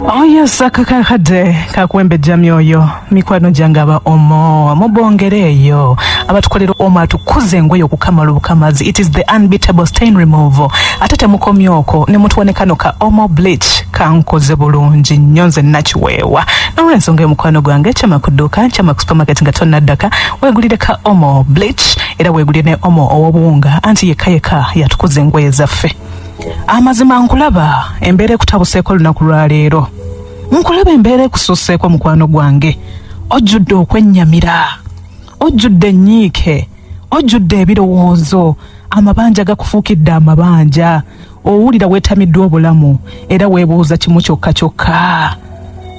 Oh yes, akakakadde kakuwembejja myoyo mikwano gyange aba omo mubongere eyo abatukolera omo atukuze engoye okukamala obukamazi it is the unbeatable stain removal ate temukomya okwo ne mutuwa ne kano ka omo bleach kankoze bulungi nnyo nze nakiweewa n'olwensonga eyo mukwano gwange kyama ku dduuka kyama ku supermarket nga tonnaddaka weegulire ka omo bleach era weegulire ne omo ow'obuwunga anti yekka yekka yatukuza engoye zaffe amazima nkulaba embeera ekutabuseeko olunaku lwa leero nkulaba embeera ekususeeko mukwano gwange ojjudde okwennyamira ojjudde ennyiike ojjudde ebirowoozo amabanja gakufuukidde amabanja owulira weetamiddwa obulamu era weebuuza kimu kyokka kyokka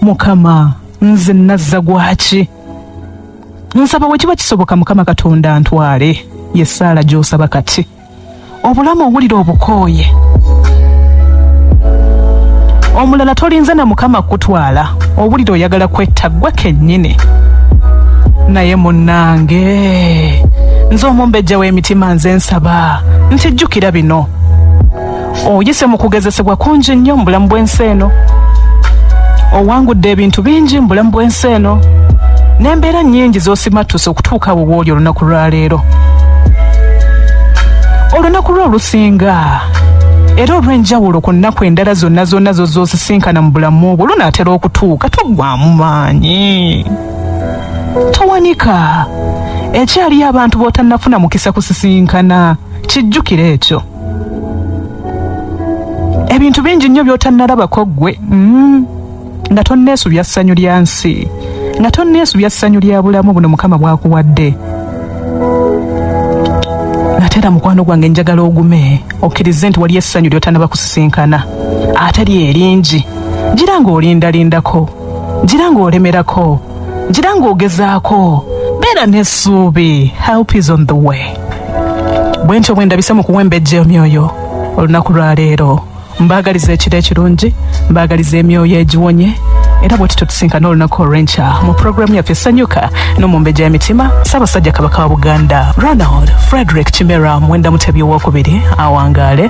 mukama nze nazza gwaki nsaba we kiba kisoboka mukama katonda ntwale ye ssaala gy'osaba kati obulamu owulira obukooye omulala tolinze na mukama kukutwala owulira oyagala kwetta ggwe kennyini naye munnange nze omumbejja w'emitima nze nsaba nti jjukira bino oyise mu kugezesebwa kungi nnyo mu bulamu bw'ensi eno owangudde ebintu bingi mu bulamu bw'ensi eno n'embeera nnyingi z'osimattuse okutuuka awo wooli olunaku lwa leero olunaku lwo olusinga era olw'enjawulo ku nnaku endala zonna zonna zozosisinkana mu bulamu bwo lunaatera okutuuka toggwamu maanyi towanika ekyaliyo abantu b'otannafuna mukisa kusisinkana kijjukire ekyo ebintu bingi nnyo by'otannalabako ggwe mm. nga tonneesubya ssanyu lya nsi nga tonneesubya ssanyu lya bulamu buno mukama bwakuwadde ate era mukwano gwange njagala ogume okkirize nti waliyo essanyu ly'otanaba kusisinkana ate lyeringi gira ng'olindalindako gira ng'olemerako gira ng'ogezaako beera n'essuubi help is on the way bwe ntyo bwe ndabise mu kuwembejja emyoyo olunaku lwa leero mbaagaliza ekiro ekirungi mbaagaliza emyoyo egiwonye era bwe tutyo tusinkana olunaku olw'enkya mu pulogulaamu yaffe sanyuka n'omumbejja y'emitima ssaabasajja kabaka wa buganda ronald frederick kimera mwenda mutebi owokubiri awangaale